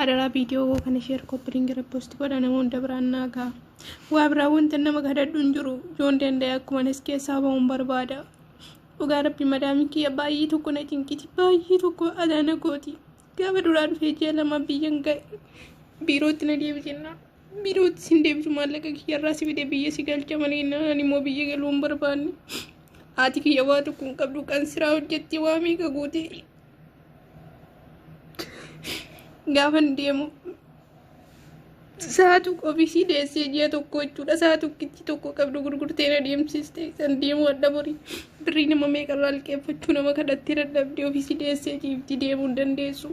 Adaraa viidiyoo koo kana sheer koppiriingi repost godha nama hunda biraan naa gaha. Waa biraa wanta nama kadhadhu hin jiru. Yoon danda'e akkuma nas keessaa ba'uun barbaada. Dhugaa rabbi madaamii kiyya baay'ee tokko na cinqiti. Baay'ee tokko adaa na gooti. Gaafa duraa dhufee ji'a lama biyyan ga'e. Biirootti na deebi jennaan. Biirootti sin deebisu maallaqa kiyya irraa si fide biyya si galcha mana jennaan ani immoo biyya galuu hin barbaanne. Haati kiyya waa tokko hin qabdu kan siraa hojjetti waa meeqa guutee gaafan deemu sa'a tokko ofiisii deessee ji'a tokko jechuudha sa'a tokkitti tokko qabdu gurgurtee na deemsiste san deemu adda borii birrii nama meeqarraa liqeeffachuu nama kadhattee dadhabdee ofiisii deessee ciifti deemuu hin dandeessu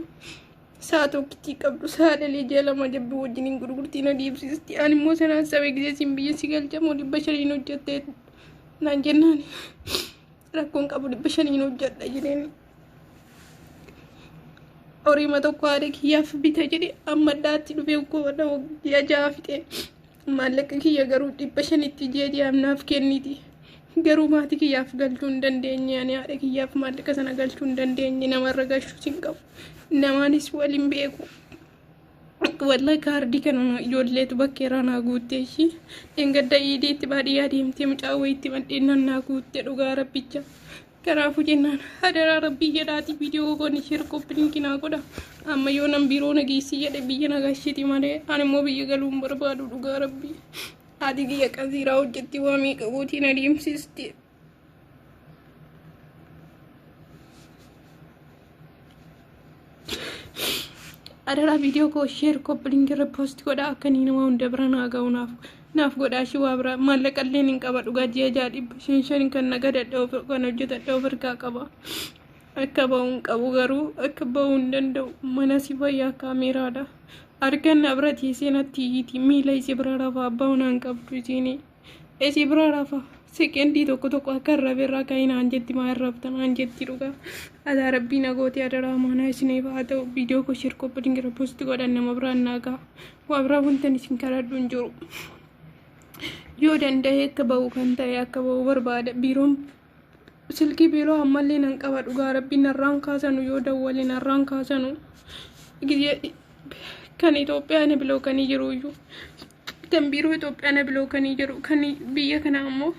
sa'a tokkitti qabdu sa'a dhalee ji'a lama jabbi wajjin hin gurgurtee na deemsiste ani immoo sanaan sabee gisee siin biyya si galchamoo dhibba shaniin hojjattee naan jennaan rakkoon qabu dhibba shaniin hojjadha jedheen horiima tokko haadha kiyyaaf bita jedhe amma addaatti dhufe goona ji'a ja'a fixe maallaqa kiyya garuu dhibba shanitti ji'a ji'aaf naaf kenniti garuu maatii kiyyaaf galchuu hin dandeenye ani haadha kiyyaaf maallaqa sana galchuu hin dandeenye namarra galchuus hin qabu namaanis waliin beeku walla kaardii kana ijoolleetu bakkeeraa naa guutte ishii dhengadda iidiitti baadiyyaa deemtee mucaa wayiitti madheennan naa guutte dhugaa rabbicha Kanaafuu jennaan hadaraa rabbii jedhaati viidiyoo koon ishee qophilinki naa godha. Amma yoo nan biiroo nageessi jedhe biyya nagaashiti malee ani immoo biyya galuu hin barbaadu dhugaa rabbii. Haati kiyya qasiiraa hojjetti waa meeqa gootii na deemsisti. Adaraa viidiyoo koo sheer koppiliin irra poosti godhaa akka inni nama hunda bira naa ga'u naaf naaf godhaa shi waa biraa maallaqalleen hin qaba dhugaa ji'a ja'a dhibba shan shan kan na gadadhe of kan hojjetadhe of ergaa qaba. Akka ba'u hin qabu garuu akka ba'u hin danda'u mana si fayyaa kaameeraadha. Argan na bira ciisee natti iyyiti miila isii bira rafa abbaa manaa hin qabdu isiinii. Esi bira rafa. Seqendii tokko tokko akka hin raferraa akka hin aanjetti maa hin raftan aanjetti dhugaa. Adaa rabbii nagooti adaraa maanaa isiniif haa ta'u viidiyoo koo sheer koppi dingira poosti godhan nama biraan naa ga'a. Waa biraa wantan isin kadhadhu hin jiru. Yoo danda'e akka ba'u kan ta'e akka ba'u barbaada biiroon Silkii biiroo ammallee nan qaba dhugaa rabbii narraan kaasanu yoo dawwale narraan kaasanu gizee kan Itoophiyaa na bilookanii jiru iyyuu kan biiroo Itoophiyaa na bilookanii jiru kan biyya kana ammoo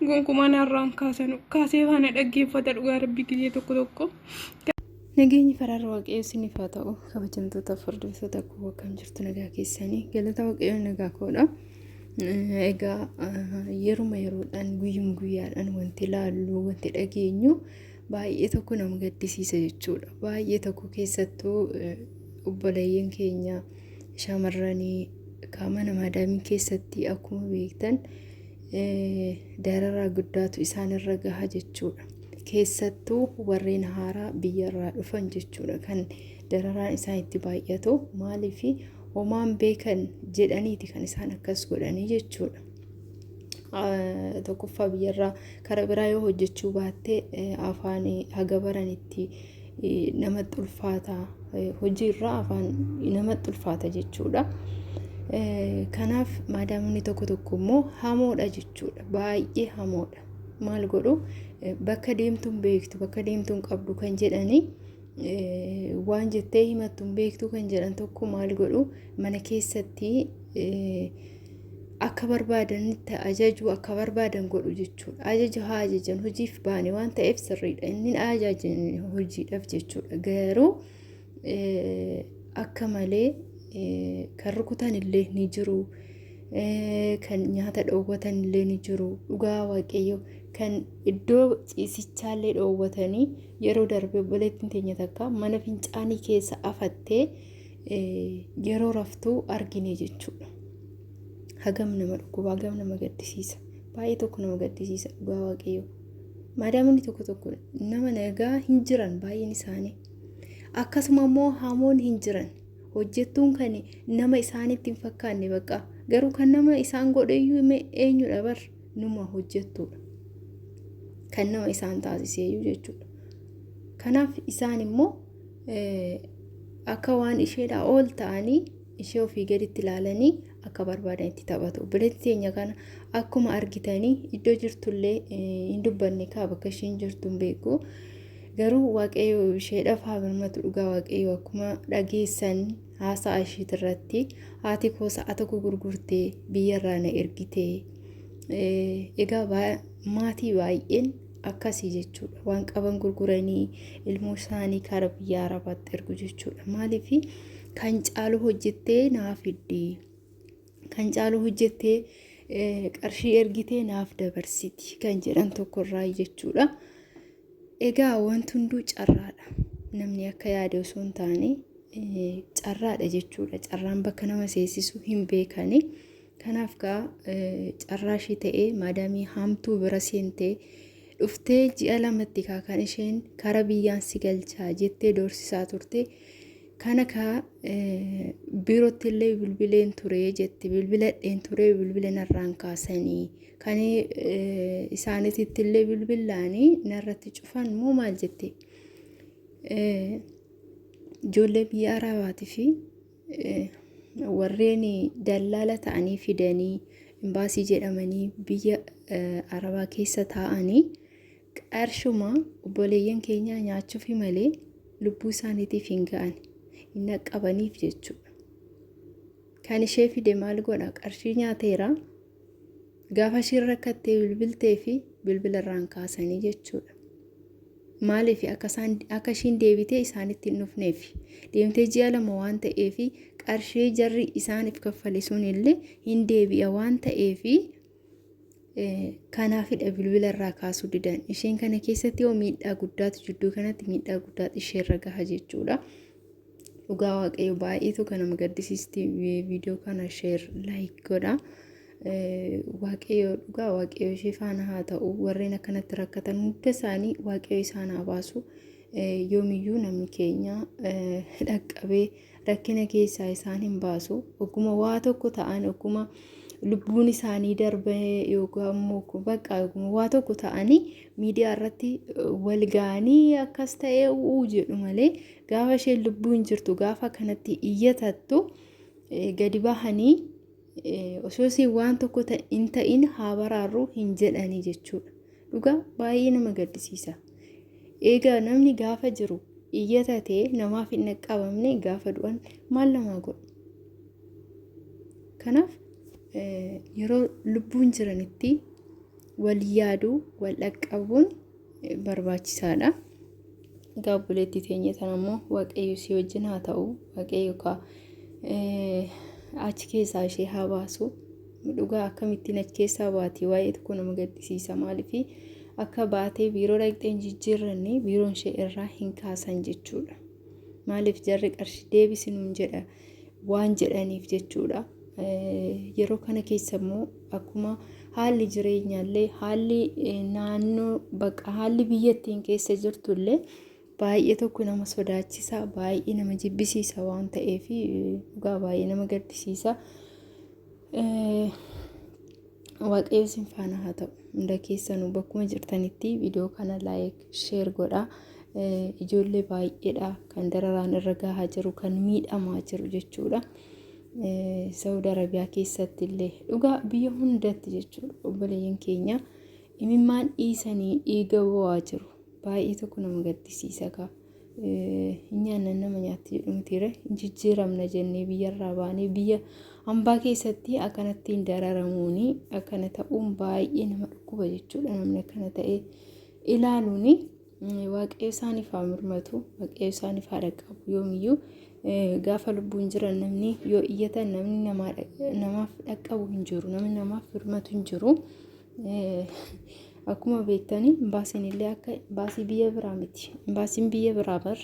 gonkumaa narraan kaasanu kaasee faana dhaggeeffata dhugaa rabbii gizee tokko tokko. Nageenyi faraarra waaqayyoo isiniif haa ta'u kabajamtoota fardoosoota koo akkam jirtu nagaa keessanii galata waaqayyoo nagaa koodha. Egaa yeruma yeroodhaan guyyuma guyyaadhaan wanti laallu wanti dhageenyu baay'ee tokko nama gaddisiisa jechuudha. Baay'ee tokko keessattuu obboleeyyan keenya shamarranii qaama namaa daamii keessatti akkuma beektan dararaa guddaatu isaanirra gaha jechuudha. keessattuu warreen haaraa biyya irraa dhufan jechuudha kan dararaan isaan itti baay'atu maaliif homaan beekan jedhaniiti kan isaan akkas godhanii jechuudha. Tokkoffaa biyyarraa karaa biraa yoo hojjechuu baatte afaan haga baranitti namatti ulfaata hojiirraa afaan namatti ulfaata jechuudha. Kanaaf maadaamni tokko tokko immoo hamoodha jechuudha baay'ee hamoodha. maal godhu bakka deemtuun beektu bakka deemtuun qabdu kan jedhanii waan jettee himattuun beektu kan jedhan tokko maal godhu mana keessatti akka barbaadanitti ajajuu akka barbaadan godhu jechuudha. Ajaja haa ajajan hojiif baane waan ta'eef sirriidha. Inni ajajan hojiidhaaf jechuudha. Garuu akka malee kan rukutan illee ni jiru. Kan nyaata dhoowwatan illee ni jiru. Dhugaa waaqayyo kan iddoo ciisichaa illee dhoowwatanii yeroo darbe obboleettiin teenya takka mana fincaanii keessa afattee yeroo raftuu argine jechuudha. Hagam nama dhukkuba, hagam nama gaddisiisa. Baay'ee tokko nama gaddisiisa dhugaa waaqayyo. Maadaamonni tokko tokko nama nagaa hin jiran baay'een isaanii. akkasuma immoo hamoon hin jiran hojjettuun kan nama isaanitti hin fakkaanne baqa garuu kan nama isaan godheyyuu mee eenyudha bar numa hojjettuudha kan nama isaan taasiseeyyuu jechuudha kanaaf isaan immoo akka waan isheedhaa ol ta'anii ishee ofii gaditti ilaalanii akka barbaadan itti taphatu. Obboleetti teenya kana akkuma argitanii iddoo jirtullee hin dubbanne kaa bakka isheen jirtu hin beeku. Garuu waaqayyo isheedhaaf haa birmatu dhugaa waaqayyo akkuma dhageessan haasaa isheet irratti haati koo sa'a tokko gurgurtee biyyarraa na ergitee. Egaa maatii baay'een akkasii jechuudha waan qaban gurguranii ilmoo isaanii karaa biyya arabaatti ergu jechuudha maaliif kan caalu hojjettee naa fiddi kan caalu hojjettee qarshii ergitee naaf dabarsiti kan jedhan tokkorraa jechuudha. Egaa wanti hunduu carraadha. Namni akka yaade osoo hin taane carraadha jechuudha. Carraan bakka nama seesisu hin beekani. Kanaaf gaa carraa ishii ta'ee maadaamii haamtuu bira seentee dhuftee ji'a lamatti kaa kan isheen kara biyyaan si galchaa jettee doorsisaa turte. Kana kaa biirootti illee bilbileen ture jetti bilbiladheen ture bilbila narraan kaasanii kan isaanititti illee bilbilaanii narratti cufan moo maal jette ijoollee biyya araabaatii fi warreen dallaala ta'anii fidanii imbaasii jedhamanii biyya arabaa keessa taa'anii Qarshuma obboleeyyan keenyaa nyaachuufi malee lubbuu isaaniitiif hin ga'ani. Hin dhaqqabaniif jechuudha. Kan ishee fide maal godha? Qarshii nyaateera. Gaafa ishiin rakkattee bilbiltee fi bilbila irraan kaasanii jechuudha. Maaliif akka isaan akka ishiin deebitee isaanitti hin dhufneef deemtee ji'a lama waan ta'eef qarshii jarri isaaniif kaffale sun illee hin deebi'a waan ta'eef Kanaafidha bilbila irraa kaasuu didan. Isheen kana keessatti yoo miidhaa guddaatu jidduu kanatti miidhaa guddaatu isheerra gaha jechuudha. Dhugaa waaqayyo baay'eetu kan nama gaddisiisti viidiyoo kana sheer laayik godha. Waaqayyo dhugaa waaqayyo ishee faana haa ta'u warreen akkanatti rakkatan hunda isaanii waaqayyo isaan haa baasu. Yoomiyyuu namni keenya dhaqqabee rakkina keessaa isaan hin baasu ogguma waa tokko ta'an ogguma lubbuun isaanii darbe yookaan immoo bakka ogguma waa tokko ta'anii miidiyaa irratti wal ga'anii akkas ta'ee u'uu jedhu malee gaafa isheen lubbuun jirtu gaafa kanatti iyyatattu gadi bahanii osoo isin waan tokko hin ta'in haa baraarru hin jedhanii jechuudha. Dhugaa baay'ee nama gaddisiisa. Egaa namni gaafa jiru iyyata ta'e namaaf hin dhaqqabamne gaafa du'an maal namaa godhu? Kanaaf yeroo lubbuun jiranitti wal yaaduu, wal dhaqqabuun barbaachisaadha. Egaa obboleettii teenya sana immoo waaqayyo si wajjin haa ta'u waaqayyo kaa achi keessaa ishee haa baasu. Dhugaa akkamittiin achi keessaa baati waa'ee tokko nama gaddisiisa maaliif akka baatee biiroo dhaqxeen jijjiirranne biiroon ishee irraa hin kaasan jechuudha. Maaliif jarri qarshii deebisinuun jedha. waan jedhaniif jechuudha. Yeroo kana keessa immoo akkuma haalli jireenyaallee haalli naannoo bakka haalli biyyattiin keessa jirtullee baay'ee tokko nama sodaachisa baay'ee nama jibbisiisa waan ta'eef dhugaa baay'ee nama gaddisiisa. Waaqayyo sin faana haa ta'u. Hunda keessanuu bakkuma jirtanitti viidiyoo kana laayik sheer godhaa. Ijoollee baay'eedha kan dararaan irra gahaa jiru kan miidhamaa jiru jechuudha. Saawud Arabiyaa keessatti illee dhugaa biyya hundatti jechuudha obboleeyyan keenya imimmaan dhiisanii dhiiga bo'aa jiru. Baay'ee tokko nama gaddisiisa kaa. hin nyaannan nama nyaatti jedhu mitiire hin jijjiiramna jennee biyyarraa baanee biyya hambaa keessatti akkanattiin dararamuuni akkana ta'uun baay'ee nama dhukkuba jechuudha namni akkana ta'ee ilaaluuni waaqayyo isaaniif haa mirmatu waaqayyo isaaniif haa dhaqqabu yoomiyyuu gaafa lubbuun jiran namni yoo iyyatan namni namaaf dhaqqabu hin jiru namni namaaf mirmatu hin jiru Akkuma beektanii imbaasiin illee akka imbaasii biyya biraa miti. Imbaasiin biyya biraa bar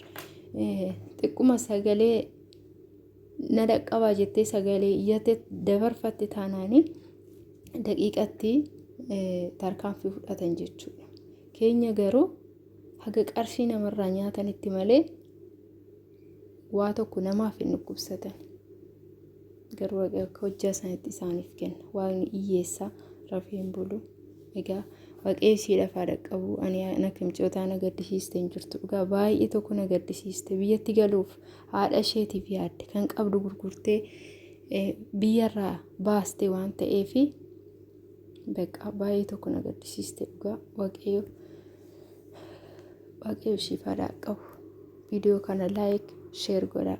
xiqquma sagalee na dhaqqabaa jettee sagalee iyyate dabarfatte taanaanii daqiiqatti tarkaanfii fudhatan jechuudha. Keenya garuu haga qarshii namarraa nyaatanitti malee Waa tokko namaaf hin dhukkubsatan. Garuu Waaqni akka hojjaa isaaniitti isaaniif kenna. Waaqni hiyyeessaa rafee hin bulu. Egaa Waaqayyo ishee lafaa dhaqqabu ani ana kimcootaa na gaddisiiste hin jirtu. Dhugaa baay'ee tokko na gaddisiiste biyyatti galuuf haadha isheetiif yaadde kan qabdu gurgurtee biyyarraa baaste waan ta'eefi. Beekaa baay'ee tokko na gaddisiiste dhugaa waaqayyo waaqayyo ishiif haa dhaqqabu. Viidiyoo kana laayik sheer godhaa.